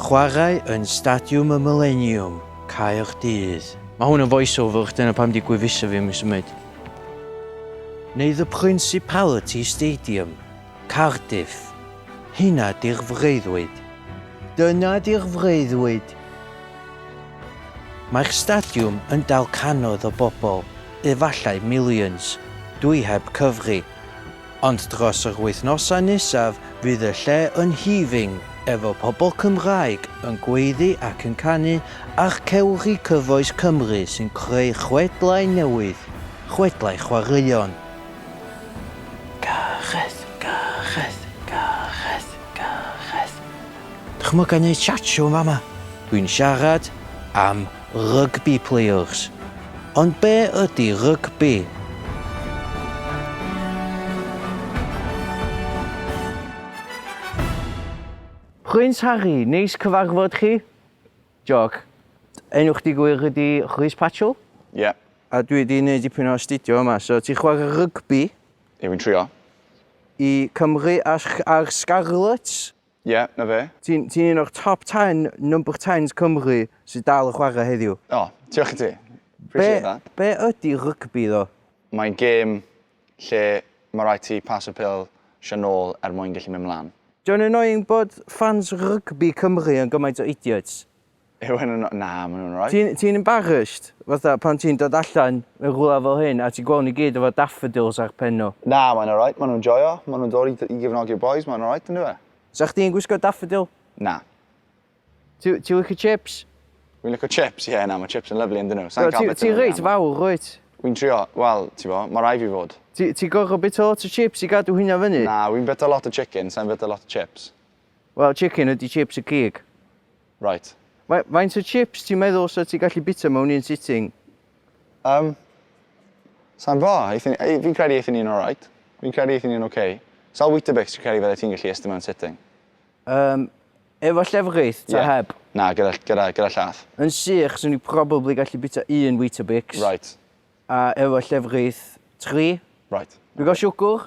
Chwarae yn Stadiwm y Mileniwm, Caerdydd. Mae hwn yn voice over, dyna pam di gwefusau fi ddim yn symud. Neu The Principality Stadium, Cardiff. Hynna di'r freuddwyd. Dyna di'r freuddwyd. Mae'r stadiwm yn dal canoedd o bobl, efallai millions, dwi heb cyfri. Ond dros yr wythnosau nesaf fydd y lle yn heaving efo pobl Cymraeg yn gweiddi ac yn canu ar cewri cyfoes Cymru sy'n creu chwedlau newydd, chwedlau chwaraeon. Gareth, Gareth, Gareth, Gareth. Dychmyga neud siartio yn fama! Dwi'n siarad am Rygbi Players. Ond be ydy rygbi? Prince Harry, neis cyfarfod chi. Joc. Enw chdi gwir ydi Rhys Patchell? Ie. A dwi wedi neud dipyn o astudio yma, so ti'n chwarae rygbi? Ie, fi'n trio. I Cymru a'r Scarlets? Ie, 'na fe. Ti'n ti'n un o'r top ten number tens Cymru sydd dal yn chwarae heddiw. O, diolch i ti. Appreciate that. Be ydy rygbi ddo? Mae'n gêm lle mae rhaid ti paso y pêl sio nôl er mwyn gallu mynd mlan. Dio'n annoying bod fans rygbi Cymru yn gymaint o idiots? Yw hyn yn... Na, maen nhw'n rhaid. Ti'n ti embarrassed? Fatha pan ti'n dod allan mewn rhywle fel hyn a ti'n gweld nhw gyd efo daffodils ar pen nhw? Na, maen nhw'n rhaid. Maen nhw'n joio. Maen nhw'n dod i, i gefnogi'r boys. Maen nhw'n rhaid, yn dweud. Sa chdi'n gwisgo daffodil? Na. Ti'n ti licio chips? Fi'n licio chips, ie, yeah, na, mae chips yn lyflu, yn dyn nhw. Sa'n cael beth Ti'n reit fawr, rwyt? Wy'n trio, wel, ti fo, mae rai fi fod. Ti'n ti gorfod bita lot o chips i gadw hynna fyny? Na, wy'n bita lot o chicken, sa'n bita lot o chips. Wel, chicken ydi chips y cig. Right. Fai- faint o chips ti'n meddwl sa ti gallu bita mewn un sitting? Yym. Sa'n bo, eithin, ei, fi'n credu eithin ni'n alright. Fi'n credu eithin ni'n ok. Sawl Weetabix ti'n credu fydde ti'n gallu iste mewn sitting? Yym, efo llefrith ta Ie. heb? Na, gyda, gyda, gyda llath. Yn sych, swn i probably gallu bita un Weetabix. Right. A efo llefrith, tri. Right. Dwi'n gael siwgwr?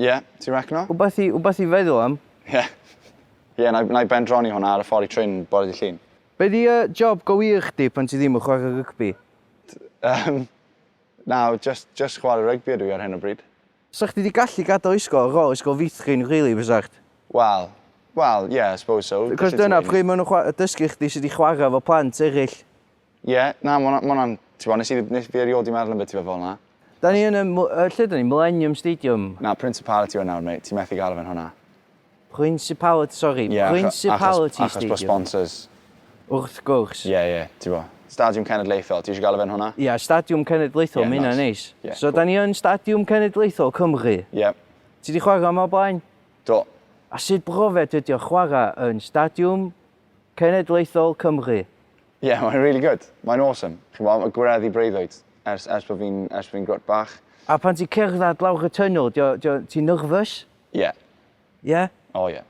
Ie, ti'n recno? Wbath i, wbath i feddwl am. Ie. Ie, na i, na i ben droni hwnna ar y ffordd i trin bore dy llun. Be di uh, job go wir chdi pan ti ddim yn chwarae rygbi? Um, na, just, just chwarae rygbi ydw i ar hyn o bryd. Sa chdi di gallu gadael ysgol ar ôl ysgol feithrin really fysa chdi? Wel, wel, yeah, I suppose so. Cos dyna pryd maen nhw'n dysgu chdi sut i chwarae fo plant eraill. Ie, na, ma' hwnna, ma' hwnna'n, t'bo', nes i, nes fi erioed 'di meddwl am beth ti fel fel 'na. Da ni yn y mw- yy, lle da ni? Millennium Stadium. Na, Principality yw e nawr, mate, ti methu galw fe'n hwnna. Principality, sori, Ie, acho- achos, Principality achos bod Stadium. sponsors, Wrth gwrs. ie, ie, t'bo'. Stadiwm Cenedlaethol, ti isio galw fe'n hwnna? Ie, Stadiwm Cenedlaethol, Ie, ma' hynna'n nice. neis. Ie, So, da cŵl. ni yn Stadiwm Cenedlaethol Cymru. Ie, Ti 'di chwarae yma o blaen? do. A sut brofiad ydy o chwarae yn Stadiwm Cenedlaethol Cymru? Ie, mae'n rili gwd. Mae'n awesome. Chi'n gwybod, mae gwireddu breuddwyd ers, ers bod fi'n, ers bod fi'n gwrt bach. A pan ti'n cerdded lawr y tunnel, dio, dio, ti'n nyrfys? Ie. Ie? O ie.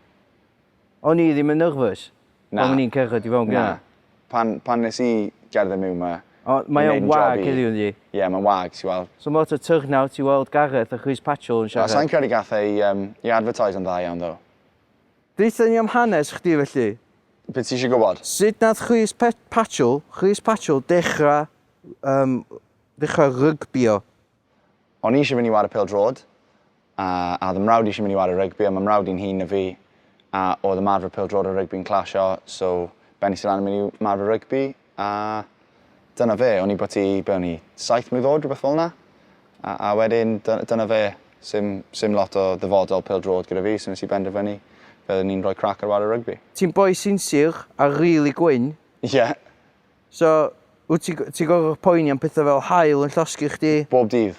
O'n i ddim yn nyrfys. Na. Pan o'n i'n cerdded i fewn gyda. Na. Pan, pan nes i gerdded mewn ma... O, mae o'n wag heddiw yndi? Ie, mae'n wag, ti'n weld. So mae lot o turnout i weld Gareth a Chris Patchell yn siarad. Sa'n credu gath ei, um, i advertise yn dda iawn ddo. Deutha ni am hanes chdi felly. Be ti isio gwybod? Sut nath Chris Pet Patchell, Chris Patchell dechra um, dechra rygbio? O'n i eisiau mynd i wario pel drod, a, a oedd y mrawd eisiau mynd i wario rygbi, a mae mrawd i'n hun na fi, a oedd y marfer pel drod a rygbi'n clasio, so benis i lan yn mynd i marfer rygbi, A dyna fe, o'n i byti i be o'n i, saith mlwydd oed, rhywbeth fel 'na. A a wedyn dy- dyna fe, sim sim lot o ddyfodol pêl-droed gyda fi, so nes i benderfynu fel o'n i'n rhoi crac ar ware rygbi. Ti'n boi sinsir a rili gwyn. Ie. So, wt ti ti'n gorfod poeni am petha fel haul yn llosgi chdi? Bob dydd.